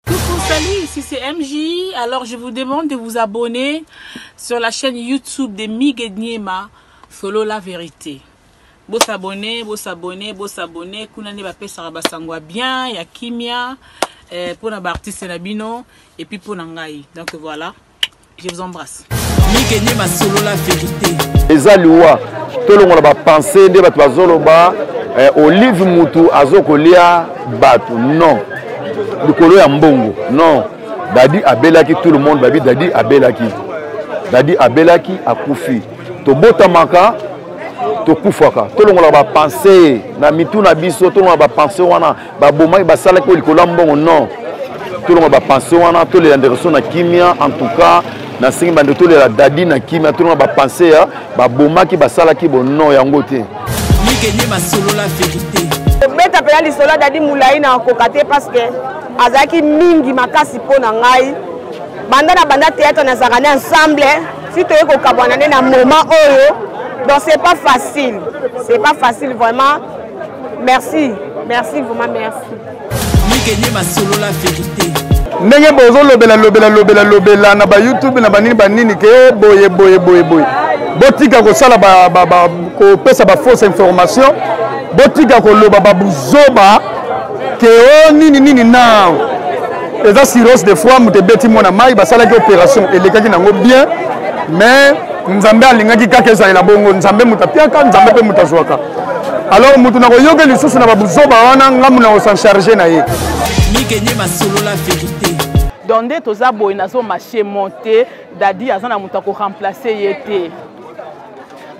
Coucou, salut, ici c'est MJ. Alors je vous demande de vous abonner sur la chaîne YouTube de Migue Niema, Solo la vérité. Bo s'abonner, bo s'abonner, bo s'abonner. Kuna ne ba pesaka ba sangwa bien, ya kimia, eh, pona ba artistes na bino, et puis pona ngai. Donc voilà. je vous embrasse mike nde masolola verité eza liwa tolongola bapense nde bato bazoloba eh, olive mutu azokolia bato non likolo ya mbongo non dadi abelaki tout le monde babi dadi abelaki dadi abelaki akufi tobotamaka tokufaka tolongola bapense na mitu na biso tolongola bapense wana babomaki basalaki oyo likolo ya mbongo non tolonga bapense wana tolela ndeko so na kimia en tout cas nasengi bande tolela dadi na kimia tolonga bapense ya babomaki basalaki bono yango te ligenye masolola verité obeta mpena lisolo ya dadi molai na koka te parce que azalaki mingi makasi mpo na ngai banda na banda théâtre nazalaka nde ensemble si toyei kokabwana nde na moment oyo donc c'est pas facile c'est pas facile vraiment merci merci vraiment merci mikenye masolola verité ndenge bozolobela lobela lobela lobela na bayoutube na banini banini ke oh, boye boye boye boye botika kosala kopesa bafausse information botika koloba babuzoba ke o oh, nini nini nao eza sirose de fois moto ebeti mwana mai basalaki opération elekaki nango bien mais nzambe alingaki kaka ezalela bongo nzambe moto apiaka nzambe mpe moto azwaka alors moto nakoyoke lisusu na babuzoba wana ngambo na kosencharge na ye mikenye masolola verité donc nde toza boye nazo marche monte dadi aza na moto akoremplace ye te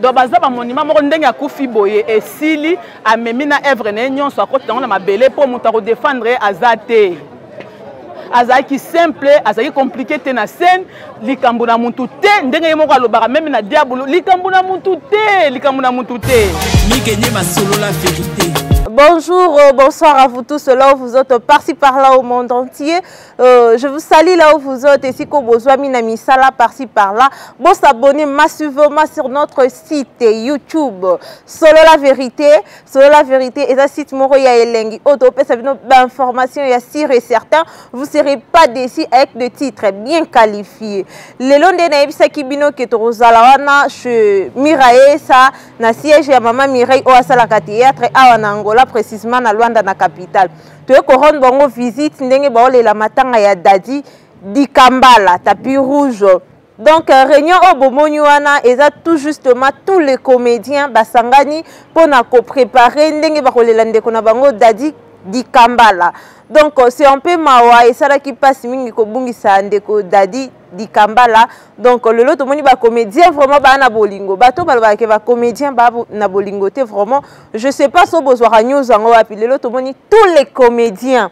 donc baza bamonima moko ndenge akufi boye esili amemi na evre na ye nyonso akoti yango na mabele mpo moto akodefendre ye aza te azalaki simple azalaki compliqué te na scène likambo na mutu te ndenge ye moko alobaka meme na diabolo likambo na mutu te likambo na mutu te mikenye masolola verité Bonjour, euh, bonsoir à vous tous là où vous êtes par-ci par-là au monde entier. Euh, je vous salue là où vous êtes et si vous besoin mina misala par-ci par-là. Bon s'abonner massivement sur notre site YouTube Solo la vérité. Solo la vérité eza site moko ya elengi oyo topesa bino bainformation ya sur et certain vous serez pas déçu avec de titre bien qualifié lelo nde nayebisaki bino ke tokozala wana chez miraesa na siège ya mama mireille oyo asalaka théâtre awa na angola précisement na luanda na capitale toye korendre bango visite ndenge baolela matanga ya dadi dikambala tapi rouge donc euh, réunion oyo bomoni wana eza tout justement tous les comédiens basangani mpo na koprépare ndenge bakolela ndeko na bango dadi dikambala donc euh, c'est un peu mawa esalaki mpasi mingi kobungisa ndeko dadi dikambala donc euh, lelo tomoni bacomédien vraiment baa na bolingo bato balobaka ke bacomédien baa na bolingo te vraiment je sais pas so bozwaka news yango wapi lelo tomoni tous les comédiens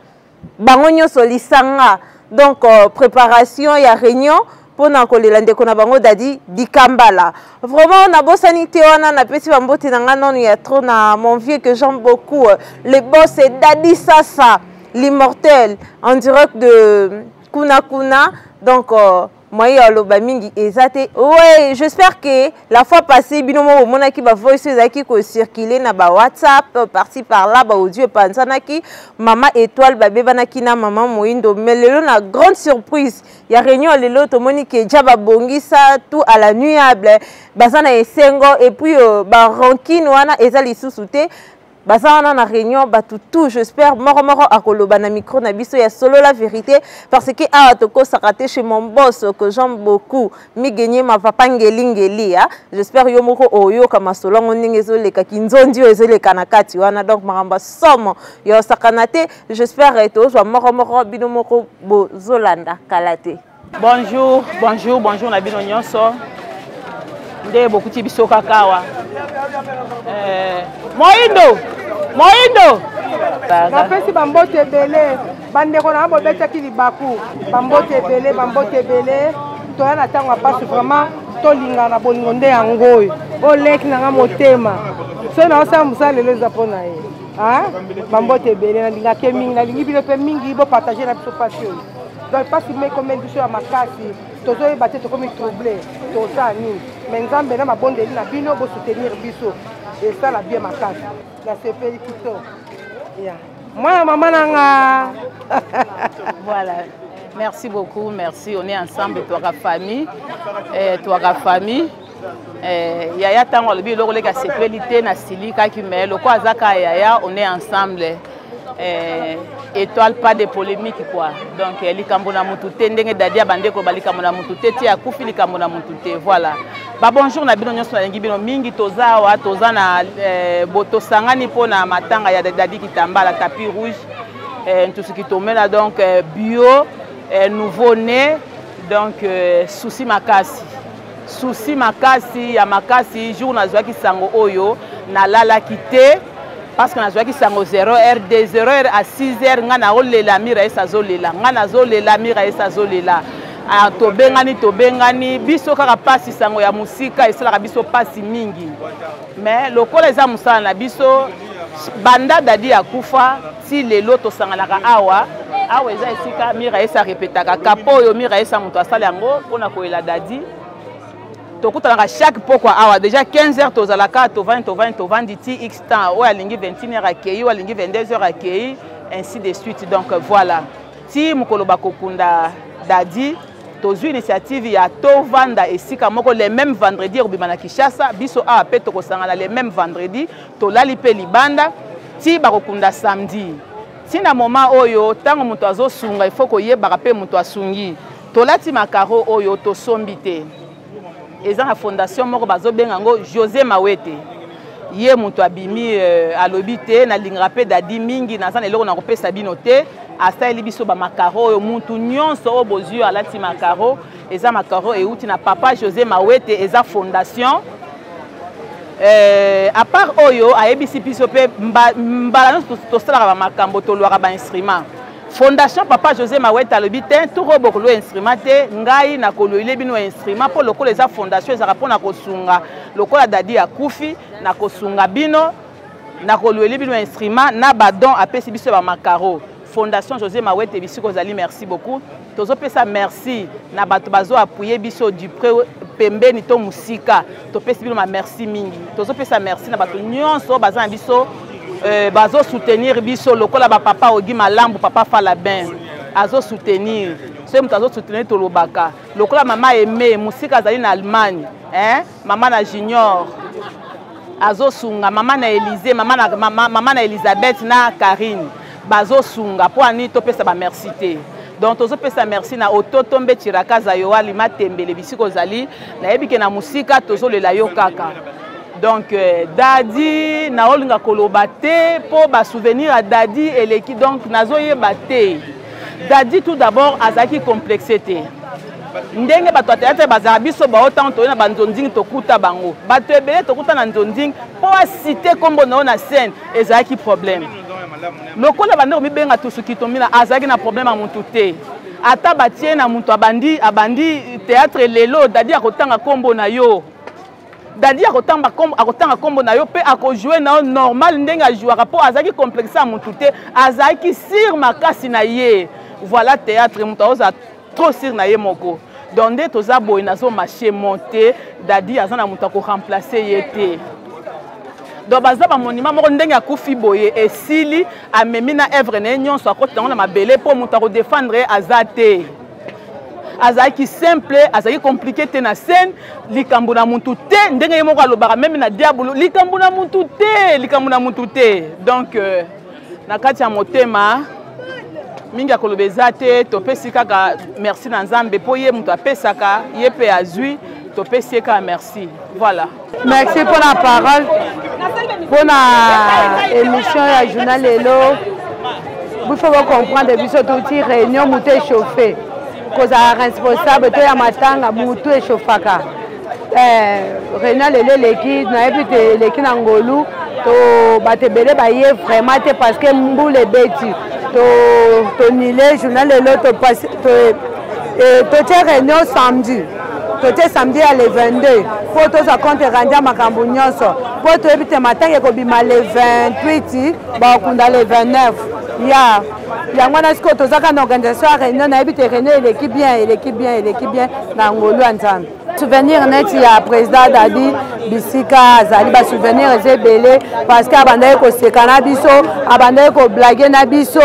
bango nyonso lisanga donc euh, préparation ya réunion mpo na kolela ndeko na bango dadi dikambala vraiment nabosani te wana napesi bambote na ngai nano ya trop na mon vieux que j'aime beaucoup euh, le boss et dadi sasa l'immortel en direct de kuna kuna donc euh, moyen ya oloba mingi eza te oui j'espère que la fois passée bino moko bomonaki bavoice oyo ezalaki kocircule na bawhatsapp euh, parti par là baaudio epanzanaki mama étoile babebanaki na mama moindo mais lelo na grande surprise ya réunion ya lelo tomoni ke ja babongisa tout à la nuable baza na esengo et puis euh, barankine wana eza lisusu te baza wana na réunion bato tout j'espère moko moko akoloba na micro na biso ya solo la vérité parce que awa tokosaka te chez mon boss que j'aime beaucoup migenye ma papa ngelingeli ya j'espère yo moko oyoka masolo yango ndenge ezoleka kinzonzi oyo ezoleka na kati wana donc makambo ya somo ya osakana te j'espère tozwa moko moko bino moko bozolanda kala te Bonjour, bonjour, bonjour na bino nyonso. Nde bokuti biso kakawa. Eh, Moindo, Moindo. Napesi bambote ebele, bandeko na bobetaki libaku, bambote ebele, bambote ebele. Toya na ntango ya mpasi vraiment tolingana bolingo nde yango oyo oleki nanga motema soki naosala mosala lelo eza mpo na ye bambote ebele nalingake mingi nalingi bino mpe mingi bopartage na biso mpasi oyo donc mpasi mekomeli biso ya makasi tozoyeba te tokomi trouble toza nini me nzambe na mabondeli na bino bosoutenir biso esala bien makasi nasepeli kitoko ya mwana mama na nga voilà merci beaucoup merci on est ensemble twaka famille eh, twaka famille Eh, yaya ntango alobi eloko leki asepeli te nasilikaki me loko aza ka yaya on est ensemble eh, étoile pas de polémique quoi donc eh, likambo na motu te ndenge dadi abandi koloba likambo na motu te ti akufi likambo na motu te voilà babonjour na bino nyonso nalingi bino mingi toza awa toza na eh, tosangani mpo na matanga ya dadi kitambala tapi rouge eh, ntusu kitomela donc eh, bio eh, nouveau né donc eh, souci makasi susi makasi ya makasi jour nazwaki sango oyo nalalaki te parce que nazwaki sango 0 heure de 0 heure à 6 heure ngai naolela mira esi azolela ngai nazolela mira esi azolela ah, tobengani tobengani biso kaka mpasi sango ya mosika esalaka biso mpasi mingi mais lokola eza mosala na biso banda dadi akufa ti lelo tosanganaka awa awa eza esika mira esa repetaka kapo oyo mira esa moto asala yango mpona koyela dadi tokutanaka chaque pokwa awa déjà 15 heures tozalaka tovandi tovandi tovandi ti x temps oyo alingi 21 heures akei oyo alingi 22 heures akei ainsi de suite donc voilà ti mokolo bakokunda dadi tozwi initiative ya tovanda esika moko le même vendredi ekobima na kinshasa biso awa mpe tokosangana le même vendredi Tolali mpe libanda ti bakokunda samedi. Ti na moma oyo ntango moto azosunga ifo koyebaka mpe moto asungi. Tolati makaro oyo tosombi te. Eza na fondation moko bazobenga yango Jose Mawete. Ye moto abimi euh, alobi te nalingaka mpe dadi mingi naza na eloko na kopesa bino te asaleli biso bamakaro oyo mutu nyonso oyo bozwi oyo alati makaro eza makaro euti na papa josé mawete eza fondation euh, à part oyo ayebisi biso mpe mbala nyonso tosalaka bamakambo tolwaka bainstrument fondation papa josé mawete alobi te toko bokolwa instrument te ngai nakoloyile bino instrument mpo lokola eza fondation ezalaka mpo na kosunga lokola dadi akufi na kosunga bino nakolweli bino instrument na badon apesi biso ya bamacaro fondation josé mawete bisika ozali merci beaucoup tozopesa merci na bato bazo appuye biso du près pembeni to mosika topesi bino bamerci mingi tozopesa merci na bato nyonso oyo baza na biso euh, bazosoutenir biso lokola bapapa ogi malambu papa falabin azosoutenir soki moto azosoutenir tolobaka lokola mama aime mosika azali na allemagne eh? mama na junior azosunga mama na elize mama na, mama, mama na elizabeth na karine bazosunga mpo anini topesa bamerci te donc tozopesa merci na ototo mbe cirakaza yoali matembele bisika ozali nayebi ke na mosika tozolela yo kaka donc euh, dadi naolinga koloba te mpo basouvenir ya dadi eleki donc nazoyeba te dadi tout d'abord azalaki complexe te ndenge bato ya teatre bazala biso bao ntango toye na banzonzing tokuta bango bato ebele tokuta na nzonzing mpo asite nkombo na yo na scène ezalaki problème lokola bande komibenga tusukitomina azalaki na problème ya motu te ata batie na moto abandi abandi teatre lelo dadi akotanga nkombo na yo dadi akotanga nkombo na yo mpe akojoue na yo normal ndenge ajouaka mpo azalaki complexe ya motu te azalaki sire makasi na ye voilà teatre moto aozala trop sur na ye moko donc nde toza boye nazo marche monte dadi aza na moto ya koremplace ye te donc baza bamonima moko ndenge akufi boye esili amemi na evre na ye nyonso akoti yango na mabele mpo moto akodefendre ye aza te azalaki simple azalaki komplike te na scène likambo na mutu te ndenge ye moko alobaka meme na diabolo likambo na mutu te likambo na mutu te donc euh, na kati ya motema mingi ya koloba eza te topesi kaka merci na nzambe mpo ye moto apesaka ye mpe azwi topesi ye kaka merci voilà merci mpo na parole mpo na émission ya journal lelo biso bocomprendre biso touti réunion moto échauffe kozala responsable to ya matanga moto échauffaka Eh, renal ele eleki nayebi te eleki na ngolu to bato ebele baye vraiment te parce que mbula ebeti tonile to journal lelo totie to, eh, to réunion samedi totie samedi ya le 22 mpo tozwa compte rendu ya makambo nyonso mpo toyebi te matanga ekobima le 28 bakokunda le 29 ya yeah. yango wana sikoyo tozaka na organisation ya réunion nayebi te réunion eleki bien eleki bien eleki bien na ngolu ya nzambe souvenir neti ya président dadi bisika azali basouvenir eza ebele parceke abandaki koseka na biso abandaki koblage na biso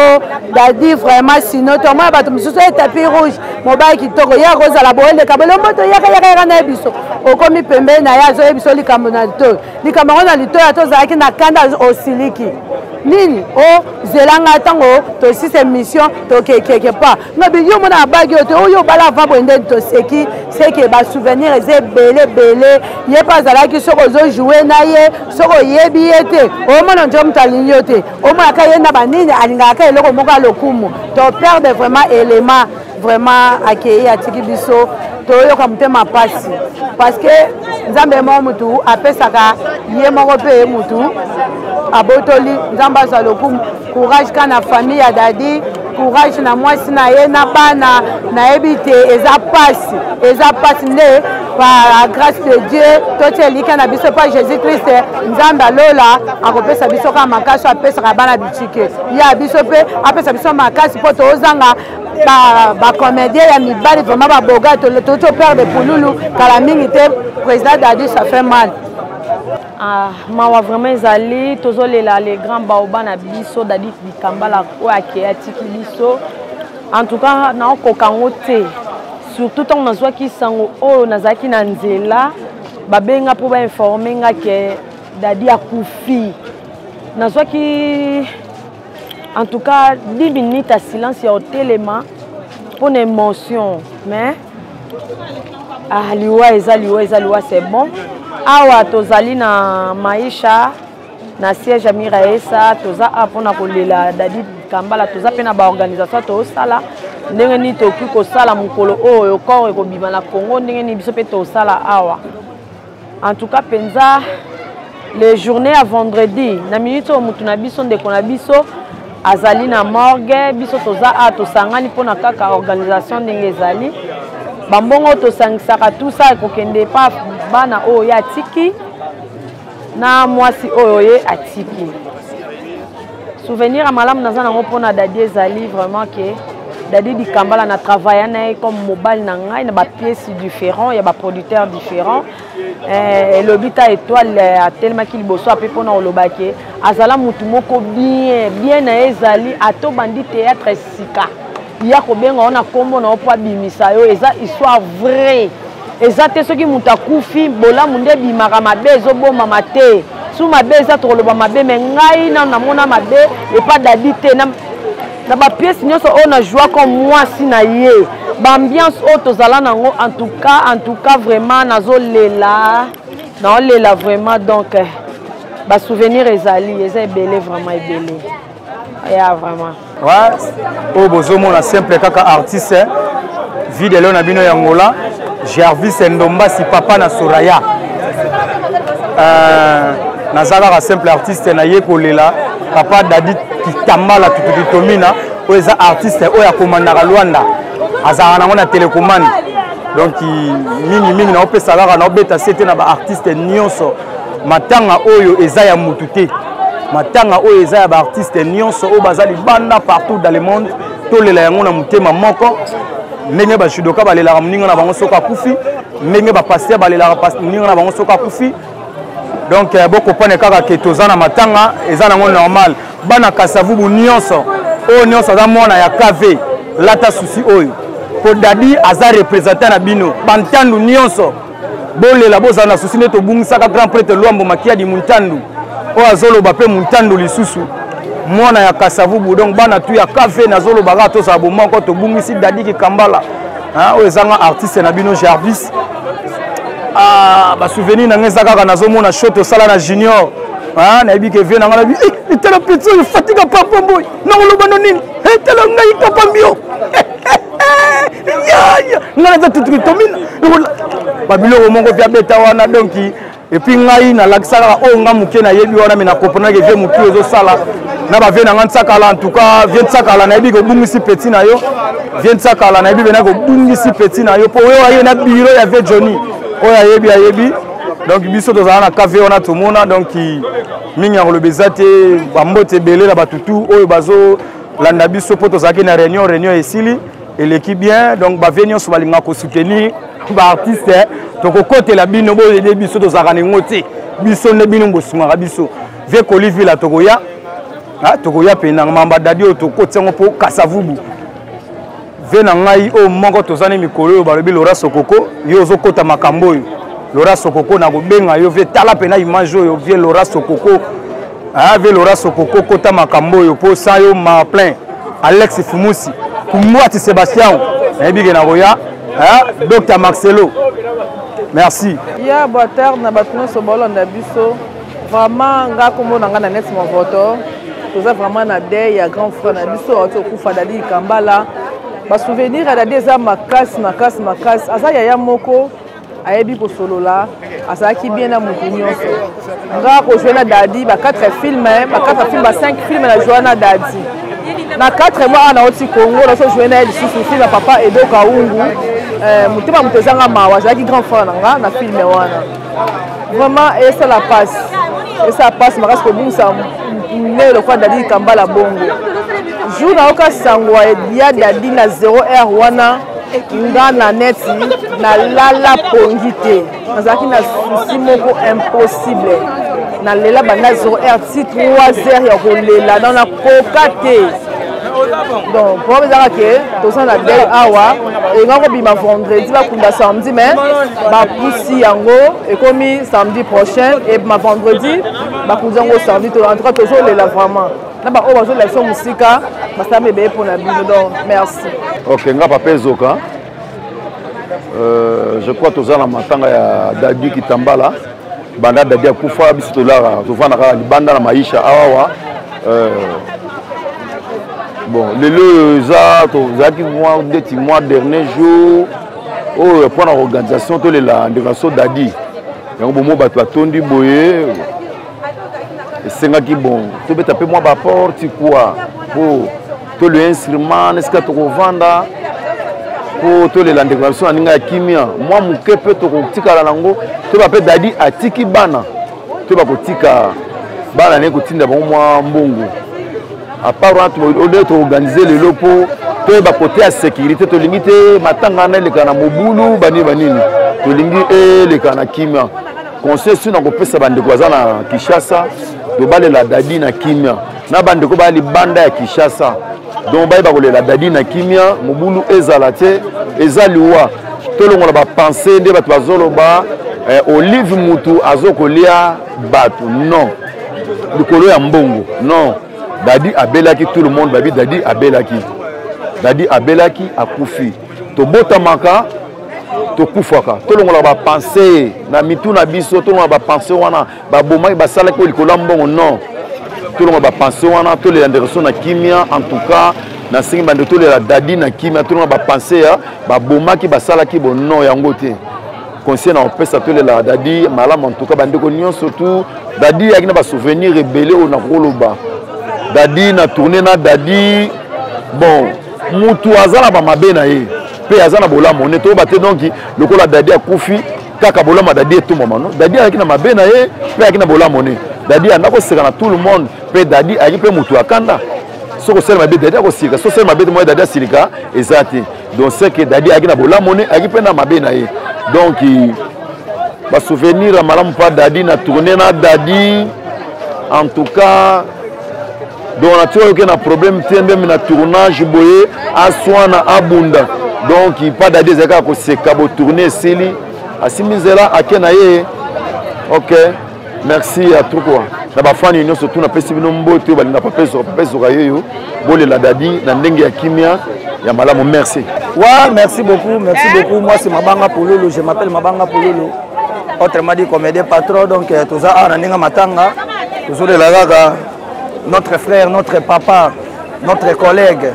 dadi vraiment sino tomona bato mosusu ye tapi rouge mobali kitoko ye akozala booleka bolombo toyaka yaka yaka na ye biso okomi pembeni na ye azoye biso likambo na litoyo likambo yango na litoyo ata ozalaki na kanda osiliki nini o oh, zela ngai ntango tosisa émission toke quelque part ngabi yo mona abagi yo te oyo obala ava boye nde toseki seke basouvenir eza ebele ebele ye mpe azalaki soki ozojoue na ye soki oyebi ye te omona njo moto alingi yo te omonaka ye na banini alingaka eloko moko ya lokumu to perde vraiment élément vraiment akeyi atiki biso toyoka motema mpasi parceke nzambe ye moko motu apesaka ye moko mpe ye motu abotoli nzambe azwa lokumu courage ka na famille ya dadi courage na mwasi na ye na bana nayebi te eza mpasi eza mpasi nde par grâce de dieu totia elika na biso mpa jésus christ nzambe alola akopesa biso kaka makasi apesaka bana bitike ya biso mpe apesa biso makasi mpo tozanga bacomédien ba ya mibali vraimen baboga touti opere de pululu kala mingi te président dadi ça fait mal Ah, mawa vraiment ezali tozolela le grand baoba na biso dadi bikambala oyo akei atiki biso en tout cas naokoka yango te surtout ntango nazwaki nsango oyo nazalaki na nzela babenga mpo bainforme nga ke dadi akufi nazwaki en tout cas 10 minutes ya silence ya otelema mpo na émotion mais ah, liwa eza liwa eza liwa c'est bon awa tozali na maisha na siège ya miraesa toza a mpona kolela dadi kambala toza mpe na baorganisation tosala ndenge nini tokoki kosala mokolo oyo corps ekobima na congo ndenge nini biso mpe tosala awa en tout cas mpenza le journée ya vendredi na minute oyo motu na biso ndeko na biso azali na morgue biso toza a tosangani mpona kaka organisation ndenge ezali bambongo tosangisaka tusa ekokende epa bana oyo ye atiki na mwasi oyo ye atiki souvenir ya malamu naza nango mpo na dadi ezali vraiment ke dadi dikambala na travailla na ye comme mobali na ngai na bapièce différent ya baproducteur différent eh, elobi ta étoile eh, atelemaki liboso ape mpona koloba ke azala motu moko bien bien na ye ezali ata obandi théâtre sika ya kobenga yo na nkombo na yo mpo abimisa yo eza histoire vraie eza te soki moto akufi bolamu nde ebimaka mabe ezobomama te su mabe eza tokoloba mabe me ngai nano namona mabe epa dadi te na, na bapiese nyonso oyo na joua comme mwasi na ye baambiance oyo tozala nango en tout cas en tout cas vraiment nazolela naolela vraiment donc eh, basouvenir ezali eza ebele vraiment ebele ya vraiment oyo oh, bozomona simple kaka artiste vie de leo na bino ya ngola gervis ndombasi papa na soraya euh, naza kaka simple artiste naye kolela papa dadi kitambala tutukitomina oyo eza artiste oyo akomandaka lwanda azalaka nango na telekomande donc mingimingi naopesa kaka naobeta se te na baartiste nyonso matanga oyo eza ya mutu te matanga oyo eza ya baartiste nyonso oyo baza libanda partout dans le monde tolela yango na motema moko ndenge bajudoka balelaka moninga na bango soki akufi ndenge bapaster balelaka moninga na bango soki akufi donc eh, bokopane kaka ke toza na matanga eza nango normal bana kasavubu nyonso oyo nyonso aza mwana ya kv lata susi oyo mpo dadi aza representant na bino bantandu nyonso bolela bozala na susi nde tobungisaka grand prêtre lwambo makiadi muntandu oyo azoloba mpe muntandu lisusu mwana ya kasavubu donc bana tu ya kave nazoloba kaka tozala bomoko tobungisi dadi kikambala oyo ezanga artiste na bino jarvis ah, basouvenir na ngai eza kaka nazomona sho tosala na junior nayebi ke vie na ngai nabi eh, etala peti oyo fatika papa mboyi nakoloba no nini etala eh, ngai papa mbio yaya nga naza tutukitomina babiloko moko mpe abeta wana donki epuis ngai nalakisa kaka oyo oh, nga moke nayebi wana me nakoponaki vie motu ezosala na bavie na ngai nsakala entouka vie nsakala nayebi kobungisi peti na yo vie nsakala nayebi pena kobungisi peti na yo mpo oyo aye na biro ya vie johnny oyo ayebi ayebi donc biso tozala na cave wana tomona donc mingi ya koloba eza te bambote ebele na batutu oyo bazo landa biso mpo tozalaki na réunion réunion esili eleki bien donc bavie nyonso balingaka kosoutenir baartiste eh. tokokotela bino boyede biso tozalaka na yango te biso nde bino bosungaka biso vie kolivila tokoya ah, tokoya mpenanga mamba dadi oyo tokoti yango mpo kasavubu ve na ngai oyo moko toza ne mikolo oyo balobi lora sokoko yo ozokota makambo oyo lora sokoko nakobenga yo vie tala mpena image oyo vie lora sokoko ah, vie lora sokoko kota makambo oyo mpo sa yo marplein alex fumusi kumwati sebastian nayebi ke nakoya docteur marcelo merci ya boa tarde na bato nyonso baolanda biso Vraiment nga kombo na nga na net movoto toza vraiment na deuil ya grand frère na biso awuti okufa dadi kambala basouvenir ya dadi eza makasi makasi makasi aza yaya moko ayebi kosolola azalaki bien na motu nyonso nga kozwa na dadi ba 4 filme ba 4 filme ba 5 filme na joa na dadi na 4 mois awa nauti congo nazojoue na ye lisusu filme ya papa edo kaungu eh, motema moto ezanga mawa azalaki grand frère na nga na filme wana vraiment esala mpasi esala mpasi makasi kobungisa mele lokola dadi kambala bongo jour nayoka sango ya dadi na 0 r wana nga na neti nalala pongi te nazalaki na susi moko impossible nalela banda 0 r ti 3 heures ya kolela koka te donc problème ezaka ke toza na dei awa elinga kobima vendredi bakunda samedi mais bapusi yango ekomi samedi prochain ebima vendredi bakundi yango samedi to en tout cas tozolela vraiment na baoyo bazolakisa mosika basala mebeye mpo na bino donc merci ok nga papa ezoka Euh, je crois toza na matanga ya dadi kitambala banda dadi akufa biso tolaka tofanda kaka libanda na maisha awawa euh, bon lelo eza tozalaki mwa ndeti mwa dernier jour oyo mpo na organisation tolela ndeko na so dadi yango bomo bato batondi boye esengaki bon tobeta mpe mwa baporte kua mpo to le instrument esika tokovanda mpo tolela ndeko na biso na ndenge ya kimia mwa moke mpe tokotikala nango toyeba mpe dadi atiki bana toyeba kotika bana naye kotinda bango mwa mbongo apart wana ode toorganize lelo mpo toyeba kote ya sécurité tolingi te matanga wana eleka na mobulu banini banini tolingi eleka na kimia conseil sino nakopesa bandeko baza na kinshasa tobalela dadi na kimia na bandeko baya libanda ya kinshasa donc bayeba kolela dadi na kimia mobulu ezala te eza liwa tolongola bapense nde bato bazoloba eh, olive mutu azokolia bato non likolo ya mbongo non dadi abelaki tout le monde babi dadi abelaki dadi abelaki akufi tobotamaka tokufaka tolongolaka bapense na mitu na biso tolongolaka bapense wana babomaki basalaki oyo likolo ya mbongo non tolonga bapense wana tolela ndeko so na kimia en tout cas nasengi bande tolela dadi na kimia tolonga bapense ya babomaki basalaki bono yango te conseil na opesa tolela dadi malamu en tout cas bandeko nyonso tu dadi yaki na basouvenir ebele oyo nakoloba dadi na tourne na dadi bon mutu aza na bamabe na ye mpe aza na bolamu ne toyeba te donki lokola dadi akufi kaka bolama dadi etumbama no dadi ayaki na mabe na ye mpe ayaki na bolamo ne dadi ayanda koseka na tout le monde mpe dadi ayaki mpe motu ya kanda soki osali mabe dadi akosilika soki osali mabe te moye dadi asilika eza te donc ce que dadi ayaki na bolamo ne ayaki mpe na mabe na ye donc basouvenir ya malamu mpa dadi na tourne na dadi en tout cas donc na tika yoke na problème te ndembe na tournage boye aswana abunda donc pa dadi ezali kaka koseka botourne esili asimbi nzela ake na ye ok merci ya trukua na bafani nyonso tu napesi bino mbote oyo balinga papesoka papesoka yeyo bolela dadi na ndenge ya kimia ya malamu merci wa merci beaucoup merci beaucoup moi c'est mabanga pololo je m'appelle mabanga pololo autrement dit comédien patron donc euh, toza awa na ndenge matanga tozolela kaka notre frère notre papa notre collègue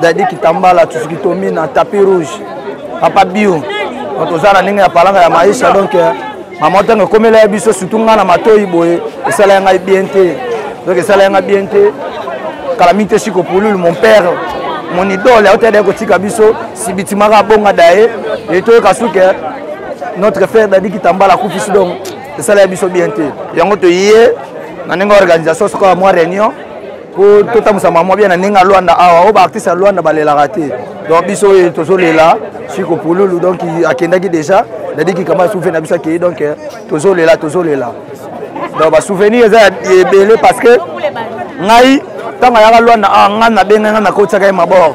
dadi kitambala tusikitomi na tapi rouge papa bio toza na ndenge ya palanga ya maisha donc euh, mama ntango ekomela ya biso surtout ngai na matoi boye esala ya ngai bien te donc esala ya ngai bien te kala mingi te siko pululu mon père mon idole auta yada kotika biso sibitimaka abonga daye etoyoka suke notre frère dadi kitambala akufisi donc esala ya biso bien te yango toye na ndenge organisation sokola mwa réunion mpo totambusa mamwa bien na ndenge ya lwanda awa oyo baartiste ya lwanda balelaka te donc biso oyo tozolela siko pululu donc akendaki déjà dadiki kama souve na biso akei donc eh, tozolela tozolela donc basouvenir eza ebele parce que ngai ntango ayaka lwanda awa ngai nabenge ngai nakotisaka ye mabor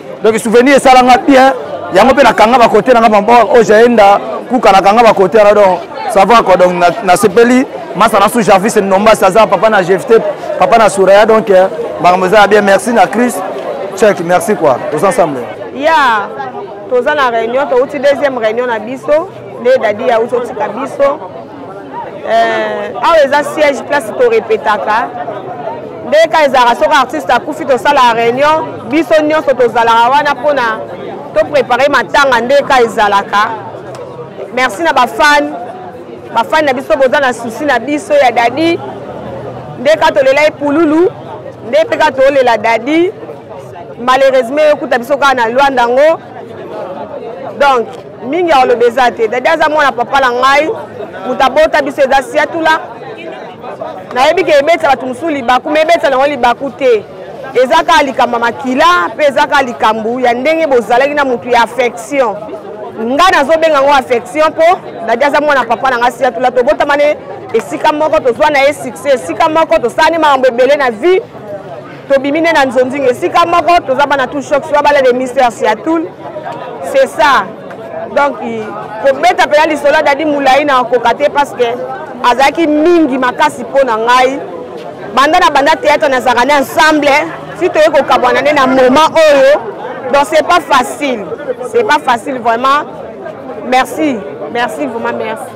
donc souvenir esala nga bien yango mpe nakanga bakote nanga mama oyo jaenda kuka nakanga bakote wana donc ça va quoi donc nasepeli masa na su jarvis nombasi aza papa na jefte papa na suraya donc eh, makambo eza ya bien merci na cris check merci quoi toza ensemble ya toza na réunion touti deuxième réunion na biso nde dadi ya uti otika biso eh, awa eza siège place torepetaka nde ka ezalaka soki artiste akufi tosala réunion biso nyonso tozalaka wana mpona toprépare matanga nde ka ezalaka merci na bafane bafane na biso boza na susi na biso ya dadi nde ka tolela ye pululu nde mpe ka tolela dadi malheureusement okuta biso kaka na lwanda yango donc mingi ya koloba eza te dadi aza mwana papa na ngai moto abota biso eza siatula nayebi ke ebetisa bato mosusu libaku ma ebetisa nango libaku te eza kaka likambo ya makila mpe eza kaka likambo ya ndenge bozalaki na motu ya affection ngai nazobenga yango affection mpo dadi aza mwana papa na ngai siatula tobotama ne esika moko tozwa na ye succès esika moko tosala ne makambo ebele na vie tobimi nde na nzonzinga esika moko toza bana tout choc soa bala de mister siatul c'est ça donc kobeta mpena lisolo ya dadi molai na koka te parce que azalaki mingi makasi mpo na ngai banda na banda théâtre nazalaka na ensemble si toye kokabwana nde na moment oyo donc c'est pas facile c'est pas facile vraiment merci merci vraiment merci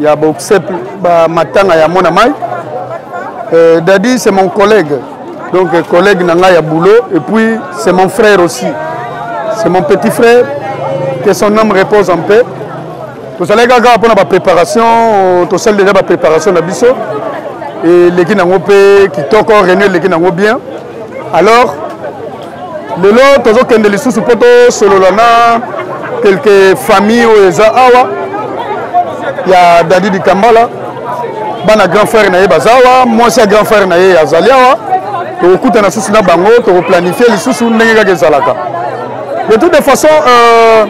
ya boxep ba matanga ya mona mai euh, dadi c'est mon collègue donc euh, collègue na ngai ya boulot et puis c'est mon frère aussi c'est mon petit frère que son homme repose en paix tozalaki kaka mpona bapréparation tosali deja bapréparation na biso eleki nango mpe kitoko réunion eleki nango bien alors lelo tozokende lisusu mpo tosolola na kelke famille oyo eza awa ya dadi dikambala bana grand frère na ye baza awa mwasi ya grand frère na ye azali awa tokokutana lisusu na bango tokoplanifie lisusu ndenge kaka ezalaka de toute de façon euh,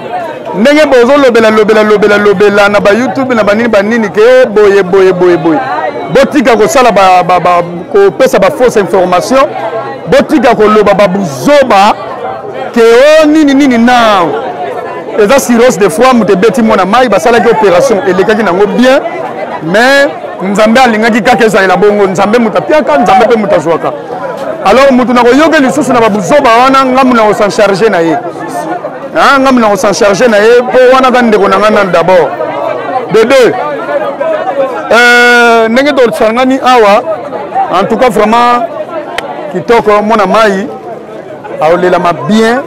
ndenge bozolobela lobela lobela lobela na bayoutube na banini banini ke boye boye boye boye botika kosala kopesa bafausse information botika koloba babuzoba ke o oh, nini nini na eza sirose de foi moto ebeti mwana mai basalaki opération elekaki nango bien mais nzambe alingaki kaka ezalela bongo nzambe moto apiaka nzambe mpe moto azwaka alors moto nakoyoke lisusu na babuzoba wana ngambo na kosan charge na ye ngambo na kosan charge na ye mpo wana ka ndeko na ngai nani d'abord de deux euh, ndenge tosangani awa en tout cas vraiment kitoko mona mai aolelama bien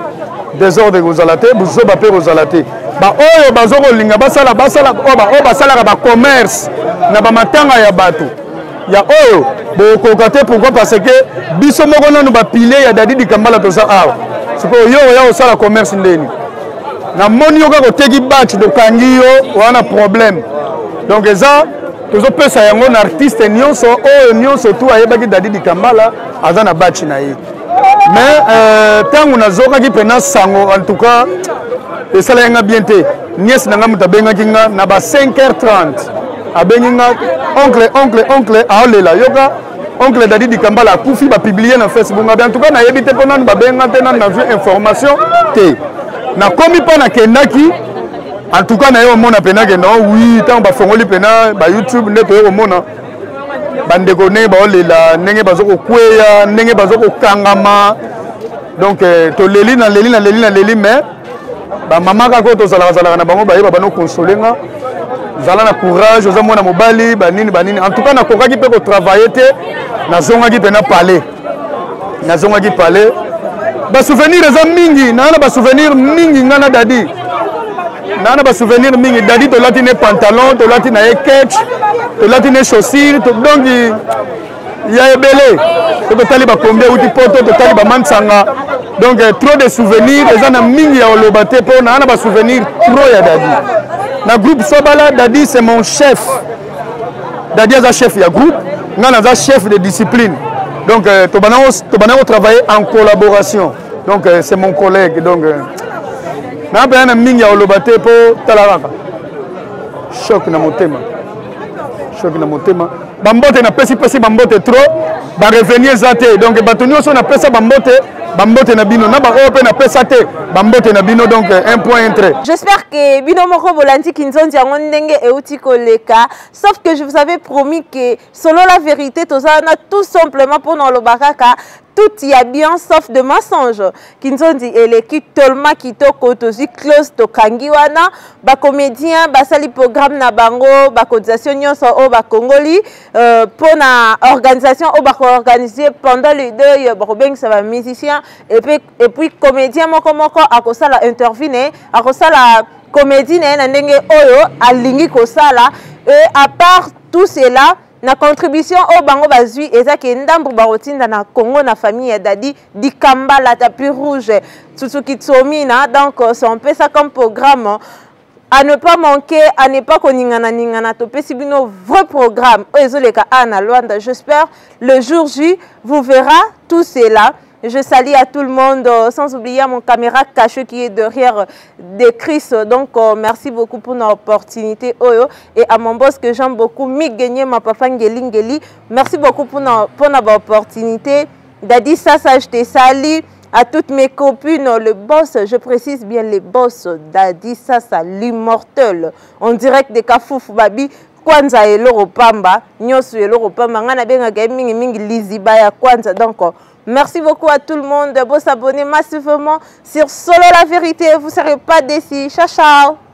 desordre ekozala te buzoba mpe ekozala te baoyo bazo kolinga basala basala oyo basalaka bacommerce na bamatanga ya bato ya oyo bokoka te pourkui parce que biso moko nanu bapile ya dadi dikambala toza awa sikoyo yo oya kosala commerce ndeni namoni yo kaka oteki bach dokangi yo wana problème donc eza tozopesa yango na artiste nyonso oyo nyonso tu ayebaki dadi dikambala aza na baci na ye mais ntango euh, nazokaki mpena sango en tout cas esalaki nga bien te niese na ngai moto abengaki nga na ba 5 heures 30 abengi nga oncle oncle oncle aolela yoka oncle dadi dikambala akufi bapiblie na facebook ngabe en tout cas nayebi te mpo nanu babenga te nanu nazwi information te nakomi mpo nakendaki En tout cas, nayo mona pena que non, oui, tant ba fongoli pena ba YouTube nde toyo mona bandeko ndenge baolela ndenge bazokokweya ndenge bazokokangama donc euh, toleli na leli na leli na leli mais bamama kaka oyo tozalaka zalaka na bango bayeba bano konsole nga zala na courage oza mwana mobali banini banini en tout cas nakokaki mpe kotravaille te nazongaki mpe na palais nazongaki palais basouvenir eza mingi naa na basouvenir mingi ngai na dadi naa na basouvenir mingi dadi tolati ne pantalon tolati na ye ketch tolati ne chaussure donc ya ebele po totali bakombi euti poto totali bamansanga donc eh, trop de souvenir eza na mingi ya koloba te mpo naa na basouvenir trop ya dadi na groupe sobala dadi c'est mon chef dadi aza chef ya groupe ngai naza chef de discipline donc euh, tobanango travailler en collaboration donc euh, c'est mon collègue donc euh, naa mpenza na mingi ya koloba te mpo tala kaka choc na motema choc na motema bambote napesipesi bambote trop barevenu eza te donc bato nyonso napesa bambote bambote na bino na baoyo mpe napesa te bambote na bino donc euh, un point intre j'espère que bino moko bolandi kinzonzi yango ndenge euti koleka sauf que je vous avais promis que solo la vérité toza wana tout simplement mpo na oloba kaka tout ya bien sauf de mensonge kinzonzi eleki tolma kitoko tozwi close tokangi wana bacomédien basali programme na bango bacotisation nyonso oyo bakongoli Euh, pona organisation oyo bakoorganize pendant le deuil bakobengisa bamusicien epuis comédien moko moko akosala interview na ye akosala comédie na ye na ndenge oyo alingi kosala e à part tout cela na contribution oyo bango bazwi eza ke ndambo bakotinda na congo na famille ya dadi dikambala tapi rouge tsutsuki tsomina donc euh, sompesa comme programme à ne pas manquer à ne pas koningana ningana topesi bino vrai programme oyo ezoleka a na luanda j'espère le jour j vous verra tout cela je salue à tout le monde euh, sans oublier à mon caméra caché qui est derrière euh, de Chris donc euh, merci beaucoup pour l'opportunité oyo et à mon boss que j'aime beaucoup Migenie ma papa Ngeli Ngeli merci beaucoup pour na, pour na opportunité Daddy Sasa je te salue À toutes mes copines, le boss, je précise bien le boss, Daddy Sasa, l'immortel, en direct de Kafouf Babi, kwanza eloko pamba nyonso eloko pamba ngai nabengaka ye mingimingi liziba ya kwanza donc merci beaucoup à tout le monde bosabonne massivement sur solo la vérité vous serez pas décis ciao ciao